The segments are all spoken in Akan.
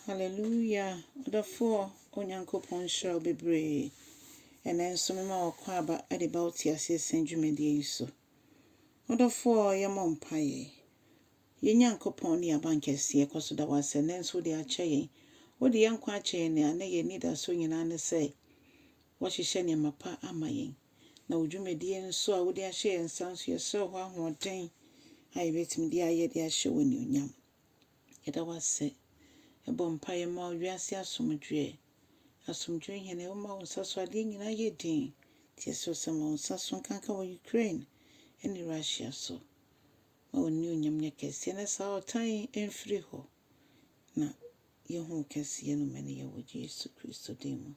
Hallelujah ɔdɔfoɔ Onyankopɔn nhyira wo bebree. Ɛnɛ nso mema wo kwan aba de ba wo teaseɛ sɛn dwumadie yi so. Ɔdɔfoɔ yɛmmɔ mpaeɛ. Yɛn Nyankopɔn ne abankɛseɛ kɔ so da wo asɛ nɛ nso wode akyɛ yɛn. Wode yɛn nkwa akyɛ yɛn a nɛ yɛn anidasoɔ nyinaa ne sɛ woahyehyɛ nneɛma pa ama yɛn. Na wo dwumadie nso a wode ahyɛ yɛn nsa nso yɛsrɛ hɔ ahoɔden a yɛbɛtumi de ayɛ de ahyɛ wo anuonyam. Yɛda wo ase. Yɛbɔ mpaeɛ ma wo wiase asomdwoeɛ. Asomdwoeɛ Hene, woma wo nsa so adeɛ nyinaa yɛ dinn. Teɛseɛ sɛ ma wo nsa so nkanka wɔ Ukraine ne Russia so. Ma w'anuonyam nyɛ kɛseɛ na saa ɔtan yi mfiri hɔ. Na yɛhu wo kɛseyɛ no mania wɔ Yesu Kristo din mu.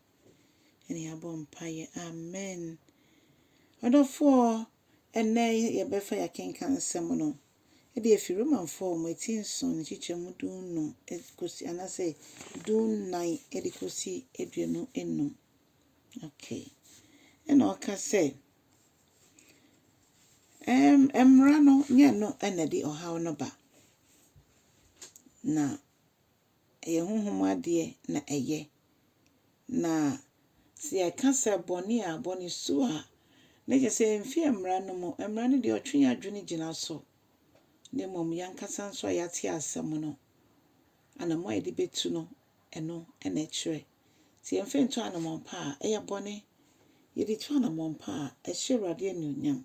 Ɛne yɛabɔ mpaeɛ. Amen. Ɔdɔfoɔ, ɛnnɛ yɛbɛfa yɛakenkan nsɛm no. de afi Romanfoɔ a wɔn ati nson ne nkyekyɛmu du nnum kɔsi anaasɛ du nnan de kɔsi aduonu nnum. Okay. Ɛna ɔka sɛ, ɛm, mmara no nyɛ no na ɛde ɔhaw no ba. Na ɛyɛ honhom adeɛ na ɛyɛ. Na sɛ yɛka sɛ bɔne a, bɔne su a, na kyerɛ sɛ ɛmfi mmara no mu. Mmara no deɛ, ɔtwe yɛn adwene gyina so, na mmom yɛn ankasa nso a yɛate asɛm no, anammɔn a yɛde bɛtu no, ɛno na ɛkyerɛ. Sɛ yɛmfa ntu anammɔn pa a, ɛyɛ bɔne. Yɛde tu anammɔn pa a, ɛhyɛ Awurade anuonyam.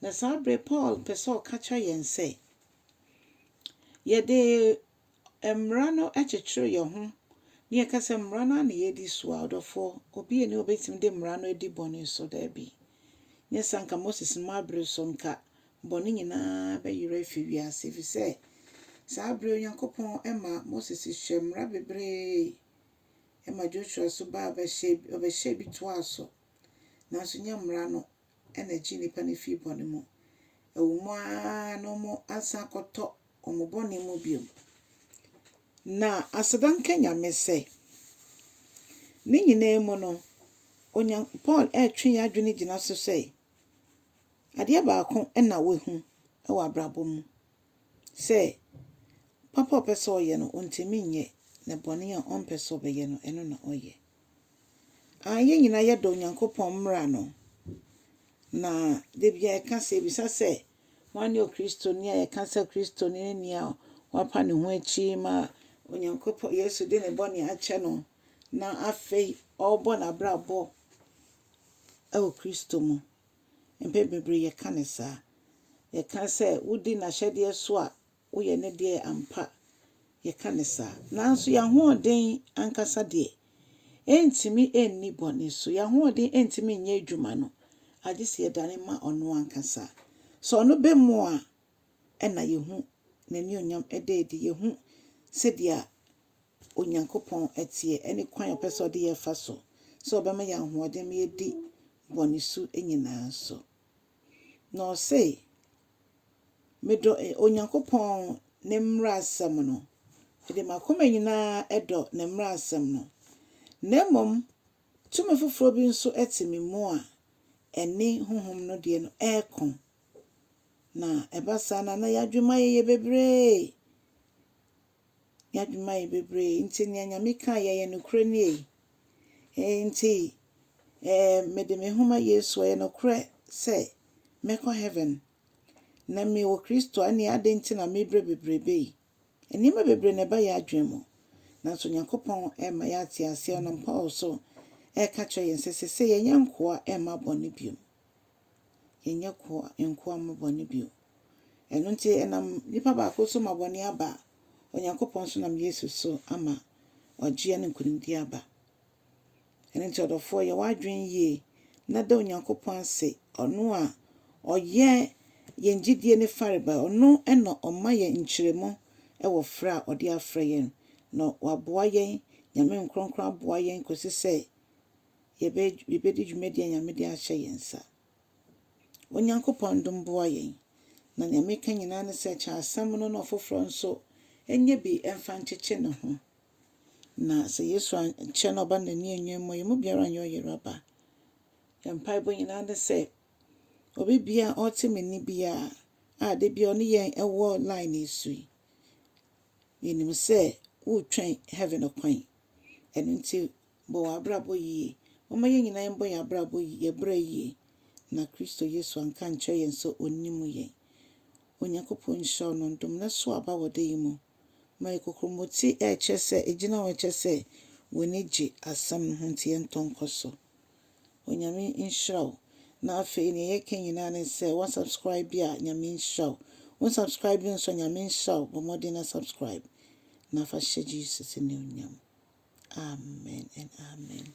Na saa berɛ Paul pɛ sɛ ɔka kyerɛ yɛn sɛ, yɛde Mmara no kyekyere yɛn ho na yɛka sɛ mmara no ara na yɛredi so a, ɔdɔfoɔ, obi nni hɔ a ɔbɛtumi de mmara no adi bɔne so. Dabi. Nyɛ saa anka Moses mmaa bere so anka bɔne nyinaa bɛyera afi wiase, ɛfiri sɛ saa bere Onyankopɔn ma Moses hyɛ mmara bebree ma Joshua nso baa ɔbɛhyɛɛ bi toaa so. Nanso nyɛ mmara no na egye nnipa no fi bɔne mu. Ɛwɔ mu ara na wɔasan akɔtɔ wɔn bɔne mu bio. Na aseda nka Nyame sɛ, ne nyinaa mu no, Onyan Paul retwe yɛn adwene gyina so sɛ, adeɛ baako na wahu wɔ abrabɔ mu, sɛ papa a ɔpɛ sɛ ɔyɛ no, ɔntumi nyɛ, na bɔne a ɔmpɛ sɛ ɔbɛyɛ no, ɛno na ɔyɛ. Aane, yɛn nyinaa yɛdɔ Onyankopɔn mmara no, na da biara yɛka sɛ, yɛbisa sɛ, hwan ne Okristoni a yɛka sɛ Okristoni ne nea wapa ne ho akyi ma Onyankopɔn, Yesu de ne bɔne akyɛ no, na afei ɔrebɔ n'abrabɔ wɔ Kristo mu. Mpɛn bebree yɛka no saa. Yɛka sɛ, wodi n'ahyɛdeɛ so a, Woyɛ ne deɛ ampa, yɛka no saa. Nanso yɛn ahoɔden ankasa deɛ, ɛrentumi nni bɔne so. Yɛn ahoɔden rentumi nyɛ adwuma no, agye sɛ yɛdane ma ɔno ankasa. Sɛ ɔno bɛ mu a, ɛna yɛhu n'anuonyam ɛda adi. Yɛhu sɛdeɛ Onyankopɔn teɛ, ɛne kwan a ɔpɛ sɛ ɔde yɛn fa so, sɛ ɔbɛma yɛn ahoɔden ma yɛadi bɔne su nyinaa so. Na ɔse, Medɔ Onyankopɔn ne mmaransɛm no. Mede m'akoma nyinaa dɔ ne mmaransɛm no. Na mmom tumi foforɔ bi nso te me mu a ɛne honhom no deɛ no reko. Na ɛba saa no a, na yɛn adwemmayɛyɛ bebree. Y'adwuma yɛ bebree, nti nea Nyame kaa yɛ yɛ nokorɛ nie. Enti eh, mede me ho ma Yesu, ɛyɛ nokorɛ sɛ mɛkɔ heaven. Na me wɔ Kristo a, ɛneɛ adɛn nti na me brɛ bebrebe yi? Nneɛma bebree na ɛba yɛn adwene mu, nanso Nyankopɔn rema yɛ ate aseɛ, ɔnam Paul so reka kyerɛ yɛn sɛ sese yɛnyɛ nkoa mma bɔne bio. Yɛnyɛ koa nkoa mmɔ bɔne bio. Ɛno nti, ɛnam nipa baako so ma bɔne aba, Onyankopɔn nso nam Yesu so ama ɔgyeɛ ne nkonimdie aba. Ɛno nti ɔdɔfoɔ, yɛ w'adwene yie na da Onyankopɔn ase, ɔno a ɔyɛ yɛn gyedie no farebae, ɔno na ɔma yɛn nkyerɛmu wɔ frɛ a ɔde afrɛ yɛn, na waboa yɛn, Nyame nkorɔnkorɔ aboa yɛn kɔsi sɛ, yɛbɛ yɛbɛdi dwumadie a Nyame de ahyɛ yɛn nsa. Onyankopɔn dom boa yɛn. Na nea meka nyinaa ne sɛ kyɛ asɛm no na ɔfoforɔ nso nyɛ bi mfa nkyekye ne ho. Na sɛ Yesu ankyɛ na ɔba n'ani anwuam mu a, yɛn mu biara nyɛ ɔyera ba. Yɛn mpaebɔ nyinaa ne sɛ obi biara a ɔte me nne biara a da biara ɔne yɛn wɔ line yi so yi, yɛnim sɛ woretwɛn heaven kwan. Ɛno nti Bɔ w'abrabɔ yie. Momma yɛn nyinaa yɛmbɔ yɛn abrabɔ yi yɛn bra yie na Kristo Yesu anka ankyerɛ yɛn sɛ ɔnnim yɛn. Onyankopɔn nhyira wo na ɔndom na so aba wɔ da yi mu. Ma yɛ kokromoti a ɛkyerɛ sɛ ɛgyina hɔ kyerɛ sɛ w'ani gye asɛm no ho nti yɛntɔ nkɔ so. Onyame nhyira wo na afei neɛ yɛka nyinaa ne sɛ wa subscribe a Nyame nhyira wo wo nsubscribe nso a Nyame nhyira wo bɔ mmɔden na subscribe na fa hyɛ Jesus animuonyam Amen and Amen.